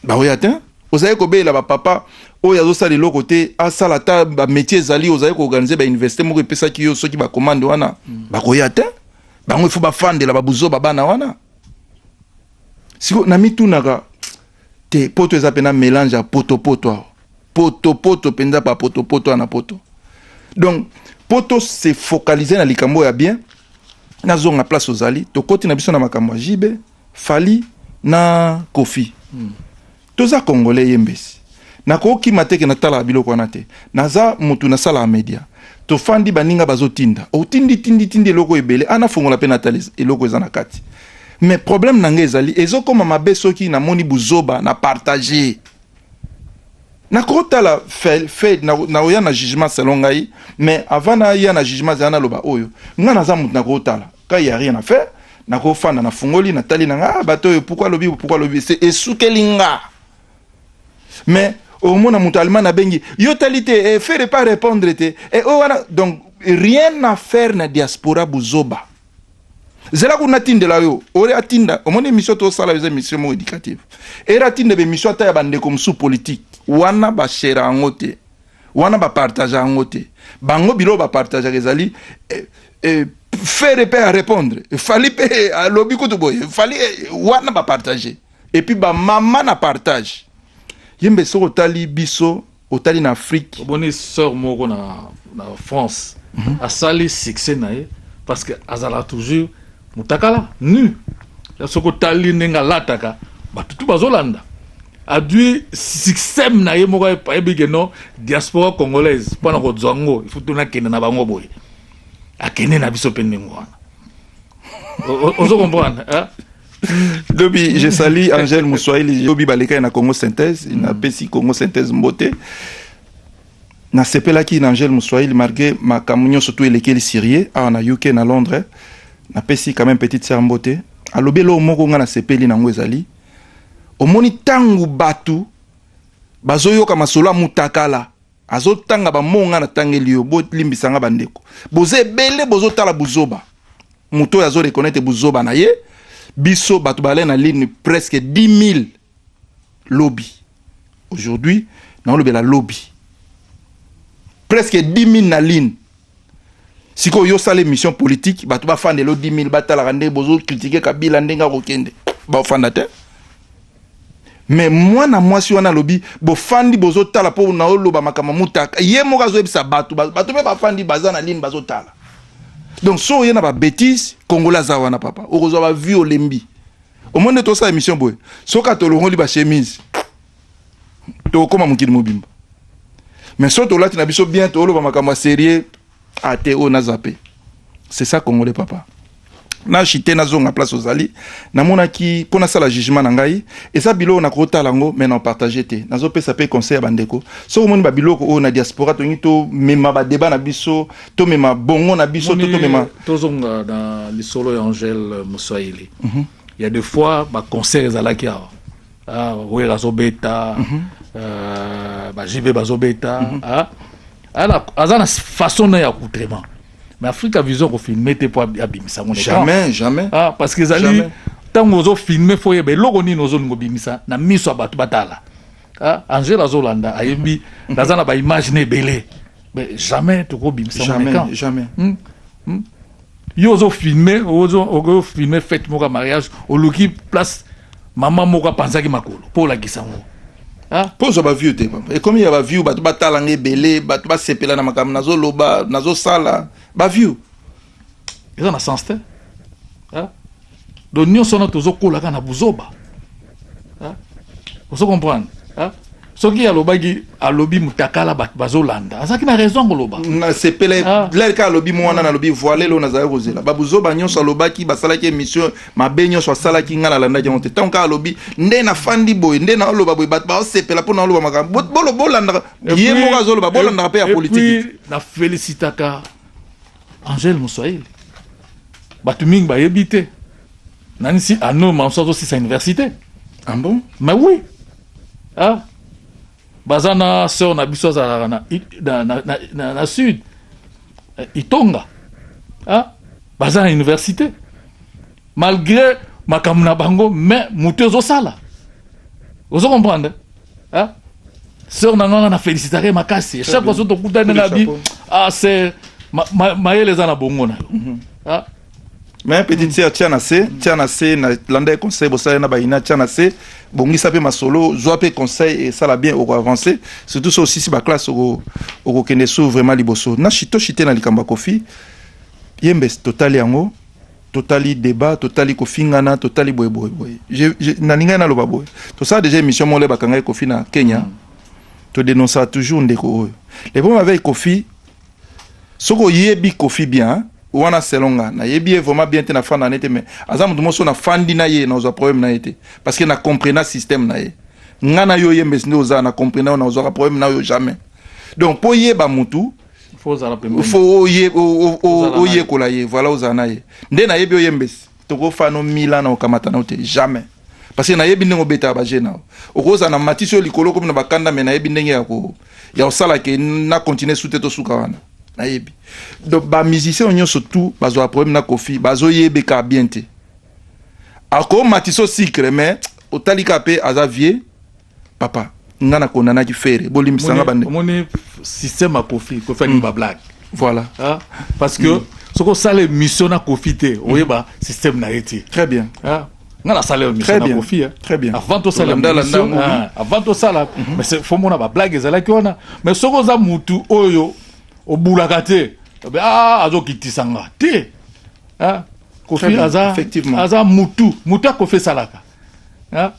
baoya te ozali kobelela bapapa oyo azosala eloko te asala ata bamétier ezali ozali koorganize bauniversité moko epesaki yo soki bakomande wana mm. bakoya te bango ifo bafandela babuzoba bana wana siko namitunaka te poto eza mpena mélange ya potopoto awa potopoto mpenza bapotopoto wana poto donc mpo tose focalize na likambo ya bien nazonga place ozali tokoti na biso na makambo ya jibe Fally na Koffi toza congolais ye mbesi nakokima te ke natalaka biloko wana te naza mutu nasalaka media tofandi baninga bazotinda otindi tindi tindi eloko ebele a nafongola pe natala eloko eza na kati mais problème na nga ezali ezokoma mabe soki namoni buzoba na partage nakotala fel fed nakoya na jugement selon ngai mais avant naya na jugement zela naloba oyo nga naza mutu nakotala Quand il y a rien à faire, nako fanda na fungoli na tali na nga ah, bato oyo pourquoi lobi pourquoi lobi c'est esukeli nga. Mais au moins na moto allemand na bengi yo tali te eh, faire pas répondre te eh, oh, wana donc rien à faire na diaspora buzoba. zela kuna atindela yo ore atinda omoni émission tosala eza émission moko éducative ere atinda bemission ata ya bandeko mosusu politike wana bashera yango te wana ba partage yango te bango biloko ba partage ezali eh, eh, fere pe a répondre fali pe alobi kutu boye fali eh, wana ba partage et puis ba mama na partage yembe soko tali biso otali na afrique oboni sœur moko na, na france mm -hmm. asali succès na ye parce que azala toujours mutakala nu soki otali ndenge alataka batutu bazolanda adui système na ye moko ayebi ke non diaspora congolaise mpo na kozwa ngo ifutu nakende na bango boye akende na biso mpe ndenge wana ozo comprendre lobi je sali angèle moswahili lobi balekaki na congo synthèse mm. napesi congo synthèse mbote nasepelaki na angèle moswahili malgré makambo nyonso to elekeli syrie awa na uk na londres napesi quand même petite sœur mbote alobi eloko moko ngai nasepeli nango ezali omoni ntango bato bazoyoka masolo ya mutakala azotanga bamoo ngai natangeli yo bolimbisa ngai bandeko boza ebele bozotala buzoba moto oyo azorekonete buzoba na ye biso bato bale na ligne presque 10 000 lobi aujourd'hui naolobela lobi presque 10 000 na ligne sikoyo yo sala émission politique bato bafandela 10 000 batalaka nde bozo kritike kabila ndenge akokende baofanda te me mwana mwasi wana alobi bofandi bozotala mpo na oloba makambo mutaka ye moko azoyebisa bato bato mpe bafandi baza na lini bazotala donc so oye na babétise kongola aza wana papa okozwa bavue olembi omoni nde tosala émission boye soki atolongoli bachemise tokokoma mokili mobimba mais so tolati na biso bien toloba makambo ya serie ate ah, oyo na zape c'est ça congolais papa na chite nazonga place ozali namonaki mpo nasala jugement na ngai eza biloko nakotala yango mai na partage te nazopesa mpe conseil ya bandeko soki omoni babiloko oyo na diaspora tolingi tomema badeba na biso tomema bongo na biso to tomema tozonga na lisolo ya angele moswahili mm -hmm. ya de fois baconcert ezalaki awa ah, wera azobeta mm -hmm. euh, bajibe bazobeta mm -hmm. ah, aza na façon na ya coutrement mais africa vision kofilme te mpo abimisa yango jamais jamais ah, parce que ezali ntango ozofilme fo oyeba eloko nini ozolinga obimisa na miso ya bato batala ah, angela azolanda ayebi mhm. naza na baimage na ebele mais jamais tokobimisa yango jamais, jamais. Hmm? Hmm? yo ozo filme ozo ozo filme fete moko ya mariage oluki place mama moko apanzaki makolo mpo olakisa yango mpo ozwa baview te papa ekomi ya baview bato batala nga ebele bato basepela na makambo nazoloba nazosala baview eza na sens te donc nionso wana tozokola kaka na buzoba ozo comprendre soki alobaki alobi mutakala bato bazolanda azalaki na raison ya koloba nasepele ah. lari kaka alobi mwana nalobi voile lelo nazalaki kozela babuzoba nyonso alobaki basalaki émission mabe nyonso asalaki ngai nalandaki yango te ntango kaka alobi nde nafandi boye nde naoloba boye bato baosepela mpo naoloba makambo bolandaka ye moko azoloba bolandaka mpe ya politiki na felicitaka Angèle Muswahili bato mingi bayebi te nanisi ano manso azosisa université ah bon? mais oui ah. baza na sœur na biso azalaka na, na, na, na, na, na sud eh, itonga ah. baza na université malgre makambo na bango mais moto ezosala ozo comprendre hein? sœur na nganga na félicitaka ye makasi chaque fois so tokutani nga bi ah c'est mayele eza na bongo na yo mhm. hein? mais petite sœur tia na se tia na se na landa ye conseil bosala na bayina tia na se bongisa mpe masolo zwa mpe conseil esala bien oko avance surtout so osisi baklasse okokende so vraiment liboso na shito shite na likambo ya kofi yembe totali yango totali debat totali kofingana totali boye boye boye nalingaki naloba boye tosala deja émission moko le bakangaki kofi na kenya mm. todenoncaka toujours ndeko oyo le problème avec kofi soki oyebi kofi bien wana selon nga nayebi ye vraiment bien te nafanda na ye te mais aza moto moso nafandi na ye nazwa problème na ye te parce que na comprena système na ye nga na yo yembesi nde oza na comprena yo nazwaka problème na yo jamais donc mpo yeba motu fo oyekola ye voilà ozala na ye nde nayebi oyembesi tokofano mila na okamata nao te jamais parce que nayebi ndenge obetaka baje nao okozala na matisi oyo likolo okomi na bakanda me nayebi ndenge ya kosala ke na continue sute tosuka wana nayebi donc bamusicien oyo nyonso tout bazwaka problème na kofi bazoyebeka bien te akomatisa o sucre mais otalika mpe aza vieux papa nga na kondanaki fere bolimbisa nga bande omoni système ya kofi kofi alingi mm. ba blague voilà ah, parce que mm. soki osala émission na kofi te mm. oyeba système na ye te très bien ah, nga nasala yo émission na kofi hein. très bien avant tosala émission ah, avant tosala mm-hmm. mais fo mona ba blague ezalaki wana mais soki oza mutu oyo obulaka te eh ah, azokitisa nga te ah, kofi aza mutu mutu akofi esalaka hein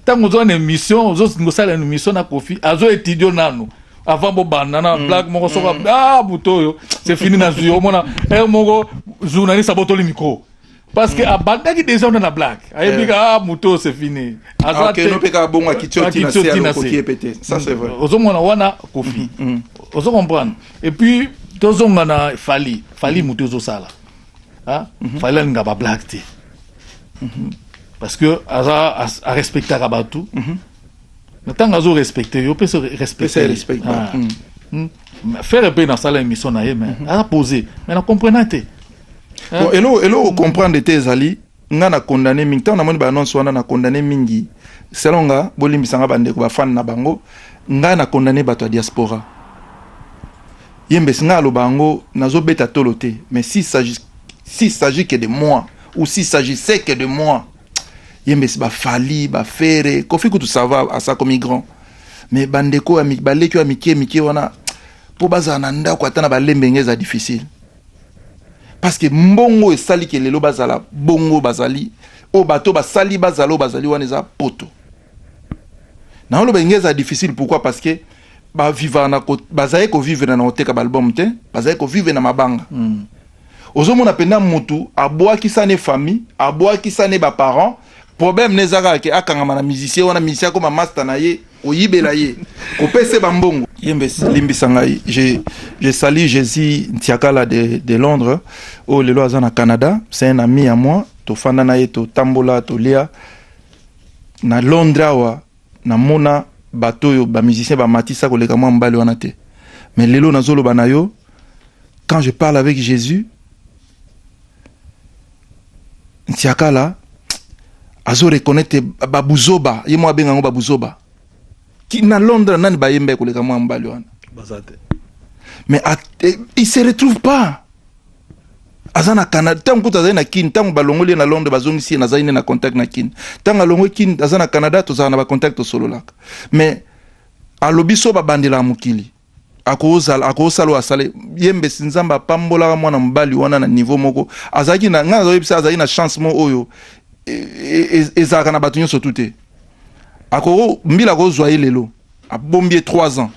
tango zo na émission zo ngosala une émission na Kofi azo étudier nanu avant bobanda na mm. blague moko soko mm. ah buto oyo c'est fini na zui omona eh moko journaliste abotoli micro parce que mm. abandaki déjà ona na blague ayebi eh. ah moto c'est fini ah, ozomona wana kofi ozo comprendre et puis tozonga na fali fali moto ezosala Hein? Mm -hmm. Fallait nga ba blague te. Mm -hmm. Parce que aza a respectaka batu. Mm -hmm. Na tanga azo respecter yo pe se respecter. Respect. Ah. Mm -hmm. Faire pe na sala émission na ye mais mm -hmm. a poser. Mais na comprenate. Hein? Bon, elo elo comprendre te ezali nga na condamne mingi ntango namoni baannonce wana na condamne mingi selo nga bolimbisa nga bandeko bafani na bango nga na condamne bato ya diaspora yembesi nga aloba yango nazobeta tolo te mais si s'agit si s'agit que de moi ou si s'agissait que de moi yembesi bafali bafere kofi kutu sava asakomi grand mais bandeko baleki oyo ya mike mike wana mpo bazala na ndako ata na balembenge eza difficile Parce que mbongo esali ke lelo bazala bongo bazali o bato basali bazala o bazali wana eza poto. Na oloba inglais eza difficile pourquoi parce que ba viva na ko bazali ko vivre na oteka ba album te bazali ko vivre na mabanga. Mm. Ozomona penda mutu abwaki sane famille abwaki sane ba parents problème ne eza kaka ke akangama na musicien wana musicien akoma masta na ye koyibela ye kopesa ye bambongo ye mbe limbisa ngai je, je sali jésus ntiakala de, de londres oyo lelo aza na canada c'est un ami ya moi tofanda na ye totambola tolia na londres awa namona bato oyo bamusicien bamatisa koleka mwa mobali wana te mais lelo nazoloba na yo quand je parle avec jésus ntiakala azo reconnaitre babuzoba ye mwa abenga yango babuzoba na londres nani bayemba ekoleka mwa mobali wana mais eh, il se retrouve pas aza na canada ntango kutu azali na kin ntango balongoli ye na londres bazongisi ye nazali nde na contact na kin ntango alongwe kin aza na canada tozalaka na bacontact tosololaka mais alobi so babandela ya mokili akozala akosala oyo asala ye mbesi nzambe apambolaka mwana mobali wana na niveau moko azalaki na ngai nazoyebisa azalaki na chance moko oyo e, e, e, ezalaka na bato nyonso tu te ako mbila akozwa ye lelo abombi ye 3 ans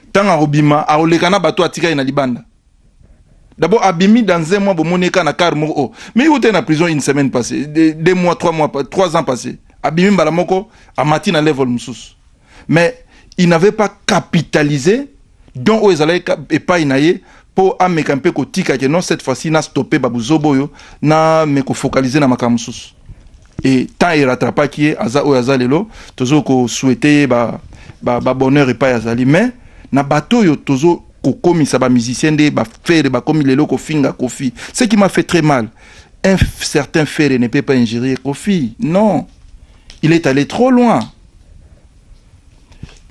ntango akobima akoleka na bato atikali na libanda D'abord, Abimi dans un mois, Bomoneka na car moko. Oh. Mais il était en prison une semaine passée, deux, deux mois, trois mois, trois ans passés. Abimi Balamoko, Amati na level Moussous. mais il n'avait pas capitalisé don oyo ezalaki epai na ye mpo ameka mpe kotika ke non cette fois-ci na stoppe babuzoba oyo na me kofocalize na makambo mosusu e temps erattrapaki ye aza oyo aza lelo tozo kosouhaite ye ba, ba, ba bonheur epai azali mais na bato oyo tozo kokomisa bamusicien nde bafere bakomi lelo kofinga kofi ce qui m'a fait très mal un certain fere ne peut pas ingérie kofi non il est allé trop loin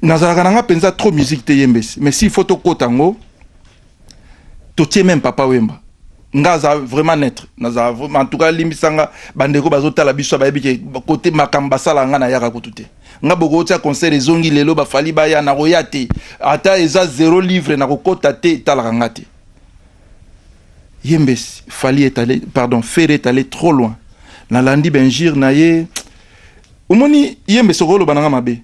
nazalaka na nga mpenza trop musique te yembesi mais s'il faut tokota yango totie meme papa wemba nga aza vraiment netre nazala vraiment en tout cas alimbisa nga bandeko bazotala biso bayebi ke kote makambo basala nga nayaka kutu te nga bokotia concert ezongi lelo bafali baya nakoya te ata eza zero livre nakokota te etalaka nga te ye mbesi fali est allé pardon ferre est allé trop loin nalandi benjir na ye omoni ye mbesi okoloba nanga mabe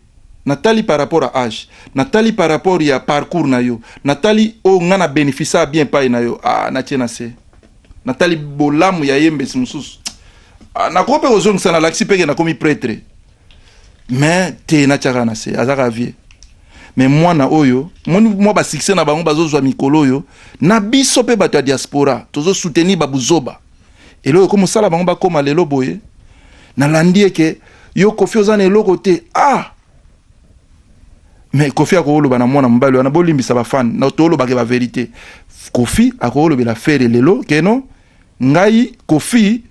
natali par rapport à age natali par rapport ya parcours na yo natali oyo oh, nga na bénéficia bien epai na yo ah, natie na se natali bolamu ya ye mbesi mosusu ah, nakoki mpe kozongisa nalakisi mpeke nakomi pretre mais te natiaka na se azaka vie me mwana oyo moni mwa basuccès na bango bazozwa mikolo oyo na biso mpe bato ya diaspora tozosoutenir babuzoba eloko ekomi osala bango bakóma lelo boye nalandi eke yo kofi oza na eloko te ah me kofi akoloba na mwana mobali wana bolimbisa bafane toolobake baverité kofi akolobela fere lelo keno Ngai Koffi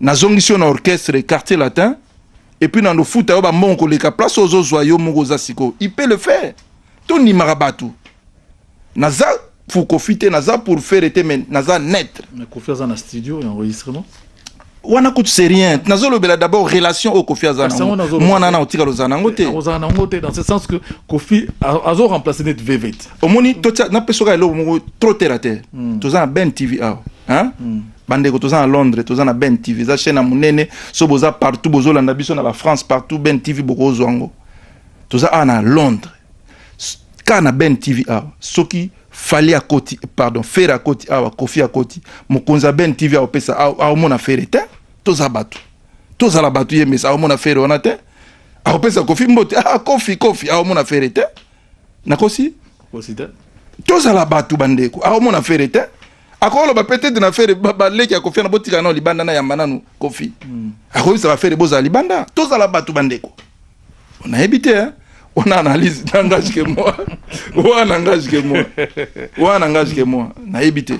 nazongisi yo na orchestre quartier latin et puis na ndofuta yo ba mbongo koleka place ozo zwa yo moko oza siko il peut le faire to ndimaka batu naza pour Koffi te naza pour faire te mais naza net mais Koffi aza na studio et enregistrement wana kutu c'est rien nazolobela d'abord relation oyo kofi aza nango mwana na otikala ozala nango te ozala nango te dans ce sens que kofi azo remplace neti vevete omoni totia napesa oka eloko moko trop terre à terre hmm. toza na ben tv awa hein? Hmm. bandeko toza na londres toza na ben tv eza chaîne ya monene so boza partout bozolanda biso na bafrance partout ben tv bokozwa yango toza awa na londres kaka na ben tv awa soki fali akoti pardon fere akoti awa kofi akoti mokonzi ya ben tv aopesa aomona fere te toza bato tozala bato ye mesa aomona fere wana te akopesa kofi mbote ah, kofi kofi aomona fere te nakosi kosi te tozala bato bandeko akomona fere te akoloba peut-être na fere baleki ya kofi na botika nao libanda na yamba nanu kofi hmm. akoyebisa bafere bozala libanda tozala bato bandeko nayebi te eh? on analyse n'engage que moi oyo n'engage que moi oyo n'engage que moi nayebi te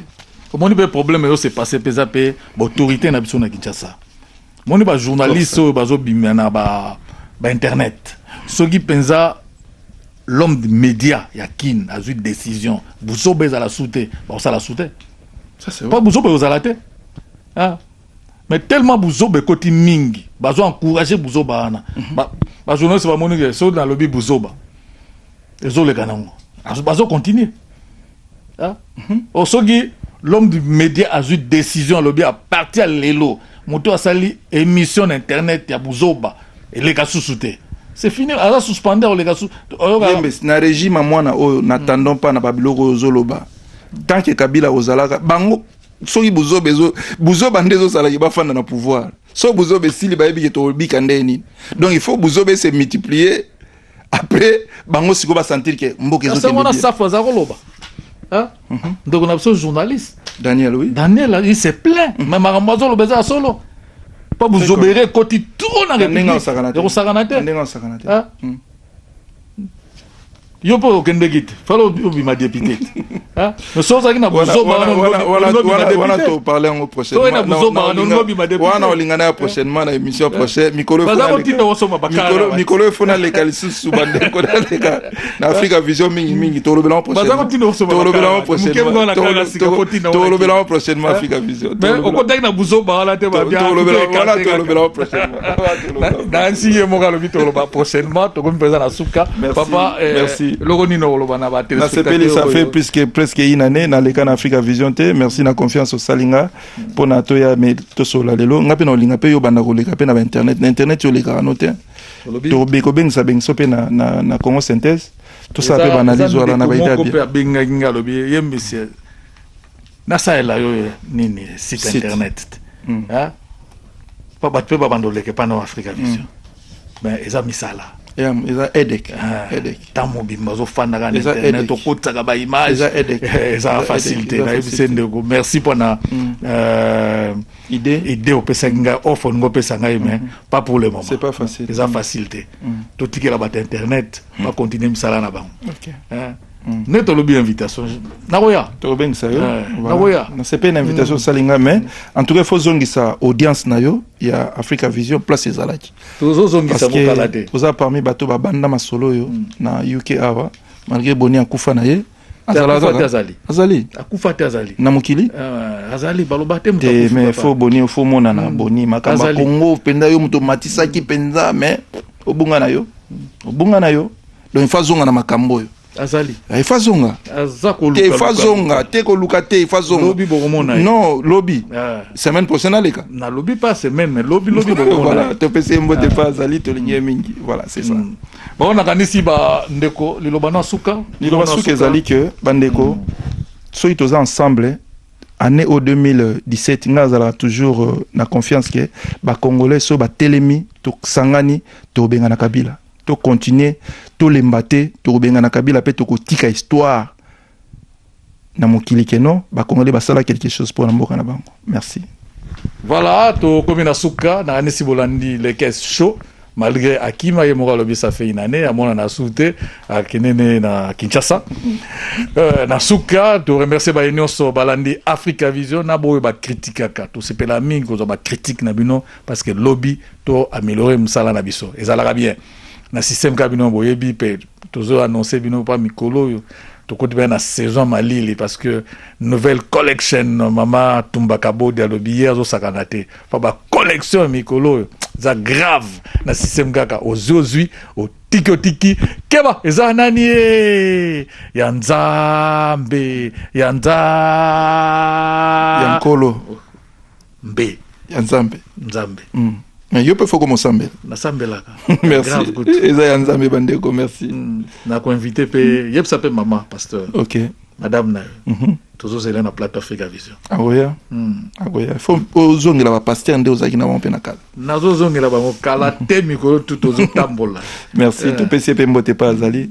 omoni mpe problème eyo se passe mpe eza mpe baautorité na biso na kinshasa moni ba journaliste oyo bazobima na ba, ba internet soki mpenza l'homme de média ya kin azwi décision buzoba ezala su te bakosala su te mpo buzoba ekozala te ah. mais tellement buzoba ekoti mingi bazo encourage buzoba wana mhm. bajournaliste ba bamoni ke soki nalobi buzoba ezoleka nango bazo continue Ah, mhm. oh, soki l'homme du média azwi décision alobi a partir ya lelo moto asali émission na internet ya buzoba eleka susu te c'est fini aza suspender oleka su oyoka Yembes, na régime ya mwana oyo natandon mpa na babiloko oyo ozoloba tant que kabila ozalaka bango soki buzoba ezo buzoba nde ezosalaki bafanda na pouvoir so buzoba esili bayebi ke tobika ndenge nini donc il faut buzoba ese multiplier après bango siko ba sentir que mboka ezo kende bien safu aza koloba hein mhm. donc on a besoin journaliste Daniel oui Daniel il se plaint mhm. mais makambo azo loba eza solo pas vous obérer koti trop na ndenge osakana te osakana te ndenge osakana te hein mhm. yo po okende kite fala obima depute so ozalaki na buzoba wana olingana ya prochainement na émission prochain mikolo efona leka lisusu bandeko naleka na afrika vision mingi mingi tolobelamo prochainement prochainement afrika vision okotaki na buzoba wana te tolobelamo prochainement dansi ye moko alobi toloba prochainement tokomi mpenza na suka papa eloko eh, nini okoloba na batelasepeli ça fait puisque presque une année naleka na africa vision te merci na confiance osali nga mpo na toya me tosola lelo nga mpe na olinga mpe yo banda koleka mpe na bainternet na internet yo olekaka no te tobekobengisa bengiso mpe na congo synthèse tosala mpe baanalyse wana na baidabia nasalela yo nini site internet mm. ah? bato mpe babanda oleke mpa na africa vision mm. ben eza misala eza edek ah, ntango mobimba ozofandaka na internet okotisaka baimage eza eh, facile te nayebi se ndeko merci mpo na mm. euh, idée opesaki ngai offre olingi opesa ngai mais mm-hmm. pas pour le moment eza facile te totikela bato internet bacontinue misala na bango Mm. nde tolobi invitation nakoya tokobengisa yo eh, nakoya nasepeli na invitation osali mm. ngai mais en tout cas faut zongisa audience na yo ya africa vision place ezalaki tozozongisa mokala te oza parmi bato babanda masolo oyo mm. na uk awa malgré boni akufa na ye azali akufa te azali na mokili ah, azali baloba te te mais faut boni faut monana boni makambo ya congo mpenza yo moto omatisaki mpenza mais obunga na yo obunga na yo donc ifa zonga na makambo oyo azali ah, ifa zonga te ifa zonga te koluka te ifa zonga lobi bokomona non lobi ah. semaine prochaine aleka na lobi pas semaine mais lobi lobi bokomona voilà topesi mbote ah. pa azali tolingi ye mingi voilà c'est ça mm. bango nakanisi ba ndeko liloba na suka liloba suka ezali que bandeko mm. soki toza ensemble année au 2017 nga azalaka toujours euh, na confiance que bacongolais so batelemi tosangani tobenga na kabila To continuer, to lemba te, toko bengana Kabila pe toko tika histoire na mokili ke non, ba Congolais basala quelque chose pour na mboka na bango. Merci. Voilà, to komi na suka, na anisi bolandi le caisse chaud. malgré akima ye moko alobi ça fait une année amona na su te akende ne na kinshasa euh, na suka toremercie baye nyonso balandi africa vision na baoyo bakritikaka tosepela mingi kozwa bakritike na bino parce que lobi to améliorer musala na biso ezalaka bien na système ka bino boyebi pe tozo annoncer bino pa mikolo oyo tokoti pe na saison malili parce que nouvelle collection mama tumba kabodi alobi ye azosakana te pa ba collection ya mikolo oyo eza grave na système kaka ozwi ozwi otiki otiki keba eza nani ye ya nzambe ya nzambe ya nkolo mpe ya nzambe nzambe mm. mais yo mpe foko mosambela nasambelaka merci eza ya nzambe bandeko merci mm. nakoinvite mpe mm. yebisa mpe mama pasteur ok madame na yo mm -hmm. tozozela na plateau africa vision akoya mm. akoya fo ozongela bapaster nde ozalaki na bango mpe na kala nazozongela bango kala te mikolo tu tozotambola merci eh. topesi ye mpe mbote mpe azali